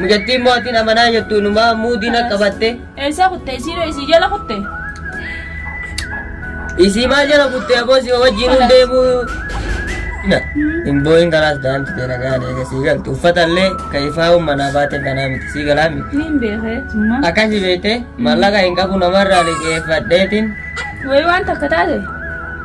Mucattiin mootiin amanaa jettu numaa muudiin akka batte. Eessaa kutte isii dhoo isii jala kutte. Isii maa jala kutte aboo si wajjin hin deemuu. Hin boo'in kalaas daa'imti tee nagaan eega sii galti. Uffata illee ka ifaa manaa baate kanaa miti sii galaa miti. Niin beekee summaa. Akkasi beekte mallaqa hin qabu namarraa liqeeffadheetiin Wayii waan takka taate.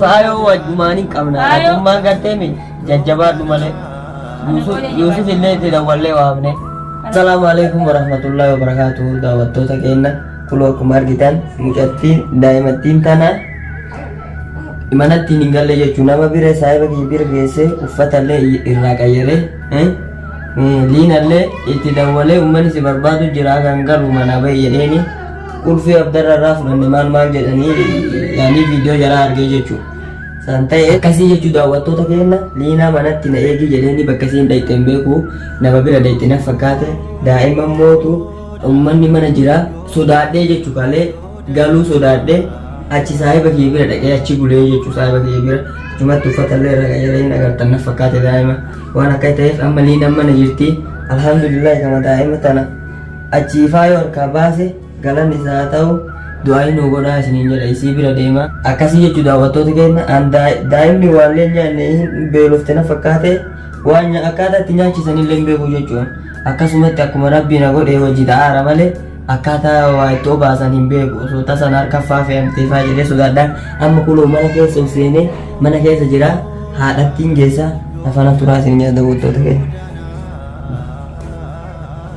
faayoo wajjumaan hin qabna atummaan garteemi jajjabaadhu malee yuusuf illee itti dawwallee waamne asalaamu alaikum warahmatullahi wabarakaatuhu daawwattoota keenya kuloo akkuma argitan mucattiin daa'imattiin tana manattiin hin galle jechuun nama bira saahiba kiyya bira geessee uffatallee irraa qayyaree liinallee itti dawwalee uummanni si barbaadu jira kan galu mana bayyadheeni Ulfii abdarra irraa fudhanne maal maal jedhanii yaanii viidiyoo jaraa argee jechuudha. San ta'e akkasii jechuu daawwattoota keenya liinaa manatti na eegii jedheenii bakka isiin dhayxe hin beeku nama bira dhayxe na fakkaate daa'imman mootu ummanni mana jira sodaadhee jechuu kalee galuu sodaadhee achi saahiba kiyya bira dhaqee achi bulee jechuu saahiba kiyya bira achumatti uffata illee irra qayyaree hin agartan na fakkaate daa'ima waan akka ta'eef amma liinaan mana jirti alhamdulillah kama daa'ima tana Achii faayoo harkaa baase galanni isaa haa ta'u du'aayii nuu godhaa isiniin jedha isii bira deema akkasii jechuu daawwattoota keenya an daa'imni waallee nyaanne hin beelofte na fakkaate waan akkaataa itti nyaachisan illee hin beeku jechuun akkasumatti akkuma rabbii na godhee wajji ta'aara malee akkaataa waa itti obaasan hin beeku osoo tasan harka faa fe'amtee faa jedhee sodaadha amma kunoo mana keessa of seenee mana keessa jira haadhattiin geessa nafana turaa isin jedha daawwattoota keenya.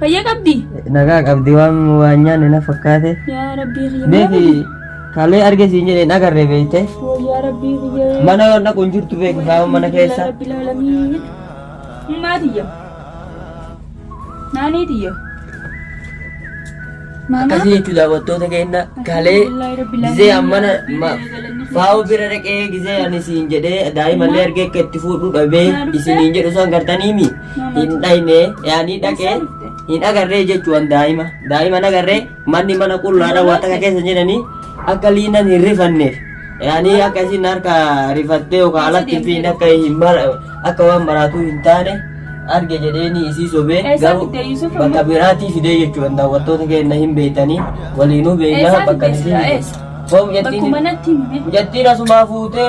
Fayyaa qabdi. Nagaa qabdi waan waan nyaanne na fakkaate. Yaa rabbii kiyya. Beeki kalee arge siin jedhee hin agarre beekte. Yaa rabbii kiyya. Mana waan dhaqu hin jirtu beeku kaawwan mana keessa. Rabbil aalamiin. Maatiyya. Naaniitiyya. Maama. Akkasii jechuun daawwattoota keenya kalee Alhamdulillahi rabbil gizee aalamiin. ammana ma- faa'u bira dhaqee gizee ani siin jedhee daa'imallee argee akka itti fuudhu dhabee isiniin jedhu san gartaniimi. hin dhayne yaanii dhaqee hin agarree jechuun daa'ima daa'ima hin agarree manni mana qullaadha waan takka keessa hin jedhanii akka liinan hin rifanneef yaanii akka isin harka rifattee yookaan alatti fi akka hin mara akka waan maraatuu hin taane arge jedheeni isii sobee Eessa garuu fidee Yuusuf immoo? bakka biraatii fidee jechuun daawwattoota keenya hin beektanii waliinuu beeknaa Eessaa bakka fidee isii Yuusuf? Eessa? Foom Bakku jettiin manatti hime. jettiin asumaa fuutee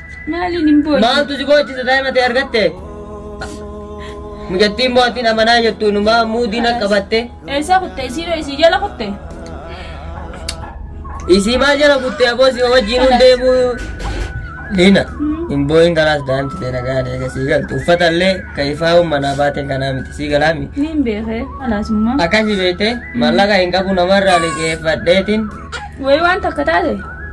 Maaliin hin boo'e? Maaltu si boochisa daa'ima ta'e argatte? Mucattiin mootiin amanaa jettu inumaa muudii na qabatte. Eessaa kutte? Isiidhoo isii jala kutte? Isii maal jala kutte aboo si wajjin hin deemu. Liina hin boo'in kalaas daa'imti ta'e nagaan eega sii galtu uffata illee kan ifaa manaa baateen kanaa miti sii galaa miti. Ni hin beekee alaasummaa. Akkasii beektee mallaqa hin qabu namarraa liqeeffadheetiin Wayii waan takka taate.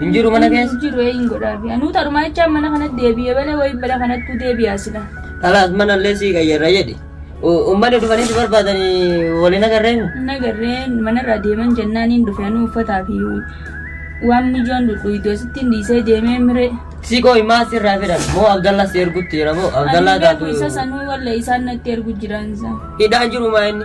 Hin jiru mana keessa. Hin jiru eeyin godhaa fi anuu tarumaa jechaa mana kanatti deebi'ee balee wayii bara kanattuu deebi'aa sila. Kalaas mana illee sii qayyarra jedhi. Uummanni dhufanii si barbaadanii waliin agarree mu? Hin agarree manarraa deeman jennaan hin dhufe anuu uffataa fi waan mijoon dhudhuutu asitti hin dhiisee deemee miree. Si qooyi maa sirraa fedhan moo Abdallaa si ergutti jira moo Abdallaa Ani beeku taatu isa sanuu walla isaan natti ergu jiraan isaa. hidhaan jiru maa inni?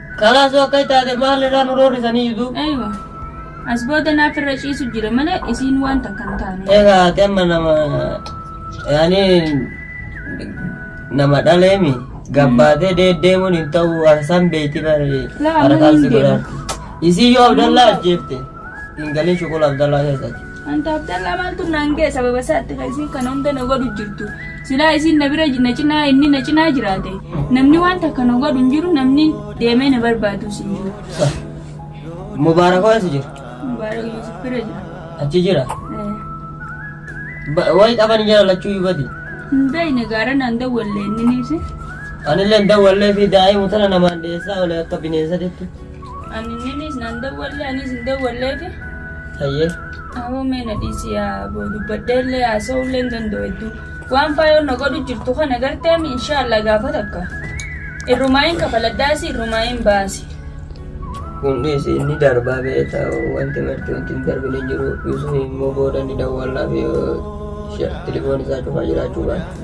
Kalaas yoo akkas taate maal irraa nu roorrisanii jitu? Aywa. As booda naaf irra ciisu jira malee isiin waan takka hin taane. Egaa ati amma nama yaani nama dhaleemi gabbaatee deeddeemuun hin ta'u harsan beeyti bari Laa, harkaan si hin deemu. godhaatti. Isii yoo Abdallaa ajjeefte hin galin shuqul Abdallaa keessatti. Anta Abdallaa maaltu naan ga'e sababa isaatti kan isiin kana hunda na godhu jirtu. Silaa isiin na bira na cinaa inni na cinaa jiraate. Namni waan takka na godhu hin jiru namni deemee na barbaadus hin jiru. Sa. Mubaarak hoo eessa jira? Mubaarak Yuusuf bira jira. Achi jira. Eh, Ba- Wayi qaban jira lachuu yubati. Hin beekne gaara naan dawwalle inni ni ibse. Anillee dawwallee fi daa'ima tana namaan dhiyeessaa olee akka bineensa deetti. Anninis nan dawwallee anis hin dawwalleefi. Hayyee. Awoo mee na dhiisi yaa aboo dubbadhee illee haasa'uu illee hin danda'u hedduu. Waan faayoon na godhu jirtu kana garteem inshaallah gaafa takka. Irrumaayin kafaladhaasi irrumaayin baasi. Kun dhiisi inni darbaa beekta wanti marti wanti hin darbine hin jiru. Yusuf immoo booda ni dawwallaaf yoo telefoon isaa cufaa jiraachuu baate.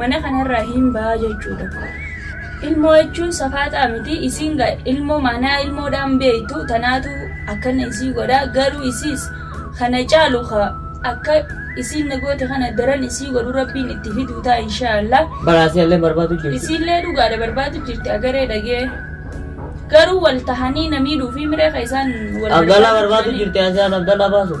mana kanarraa hin ba'a jechuudha. Ilmoo jechuun safaaxaa miti isiin ilmoo manaa ilmoodhaan beektu tanaatu akkana isii godha garuu isiis kana caalu akka isiin nagoote kana daran isii godhu rabbiin itti fiduu ta'a inshaallah. Baraasii illee barbaadu jirti. Isiillee dhugaadha barbaadu jirti agaree dhagee garuu wal tahanii namii dhuufii miree ka isaan wal Abdallaa barbaadu jirti Asiyaan Abdallaa baasuuf.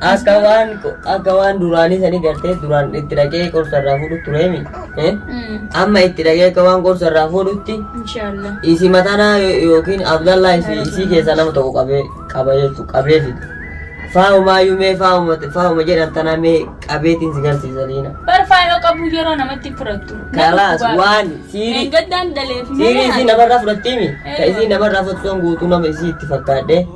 Akka waan akka waan duraanii sanii gartee duraan itti dhaqee qorsa irraa fuudhu tureemi. Eh? Amma itti dhaqee akka waan qorsa irraa fuudhutti Inshallah. isii matanaa yo- yookiin Abdallaa isii isii keessaa nama tokko qabee qaba jechuudha qabee fida. Faahuma yuumee faahuma faahuma jedhan tanaa mee qabeetiin si garsiisa liina. Barfaayoo qabu yeroo namatti fudhattu. Kalaas waan siirii Meengaddaan daleef siirii isii namarraa fudhattiimi. Ka isii namarraa fudhattuun guutuu nama isii itti fakkaadhee.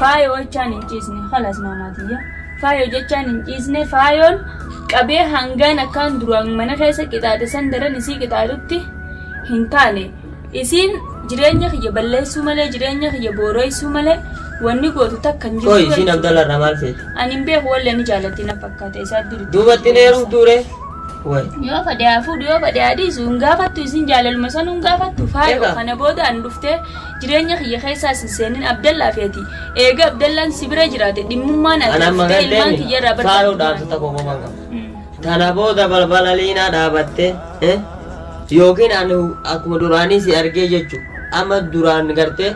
Faayo jechaan hin ciisne kalas maamaa tiyya faayo jechaan hin ciisne faayoon qabee hangaan akkaan duraan mana keessa qixaaxe san daran isii qixaaxutti hin taane isiin jireenya kiyya balleessuu malee jireenya kiyya booroysuu malee wanni gootu takka hin Qoy isiin Abdalla irraa maal feeti? ani hin beeku wallee ni jaalatti na fakkaata isaa duritti Duubatti hin heerumtuu ree? Way. yoo fadhe haa fuudhu yoo fadhe haa dhiisu hin gaafattu isin jaalaluma san hin gaafattu faayo Egaa. kana booda an dhuftee Jireenya kiyya keessa as hin seenin Abdallaa fi ati. Eega Abdallaan si bira jiraate dhimmummaan ati An amma dhuftee ilmaan galteeni kiyya irraa faaluu dhaamsa barbaaddu. tokko qofa hin qabu. Mm. Tana booda balbala liinaa dhaabatte eh? yookiin ani akkuma duraanii si argee jechu amma duraan gartee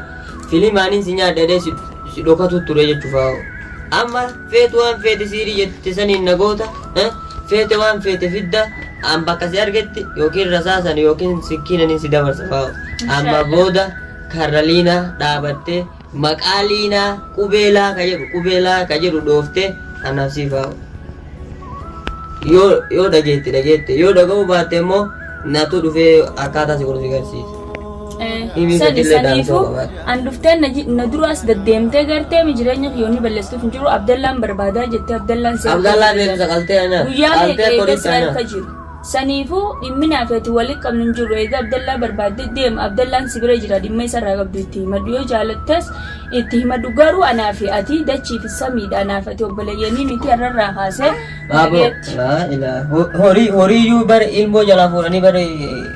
filimaaniin si nyaadhedhee si si dhokatu ture jechuufaa amma Feetu waan feete siirii jette saniin na goota, eh, feete waan feete fidda, an bakka si argetti yookiin rasaasan yookiin sikkiinanin si dabarsa faa'u. Amma Inshaallah. booda karra liinaa dhaabattee maqaa liinaa qubeelaa ka jedhu qubeelaa ka jedhu dhooftee anaaf sii faa'u. Yoo yoo dhageetti dhageette yoo dhaga'uu baatte immoo natu dhufee akkaataa si godhu si garsiisa. Dhibii sadi sadillee saniifuu daansoo qabaadha. an dhuftee na ji- na duraas gaddeemtee gartee mi jireenya kiyyoonni balleessuuf hin jiru abdallaan barbaadaa jettee abdallaan si Abdallaan harka beekumsa qaltee ana. guyyaa meeqa Qaltee eega qorii si sana. harka jiru saniifuu dhimmi naaf ati walii qabnu hin jiru eega abdallaa barbaaddee deema abdallaan si bira jira dhimma isa irraa qabdu itti himadhu yoo jaalattas itti himadhu garuu anaa fi ati dachii fi samiidha anaa fi ati obboleeyyanii miti har'arraa kaasee Baaboo. nagayeetti. Laa ilaa. Horii horii iyyuu bara ilmoo jalaa fuudhanii bara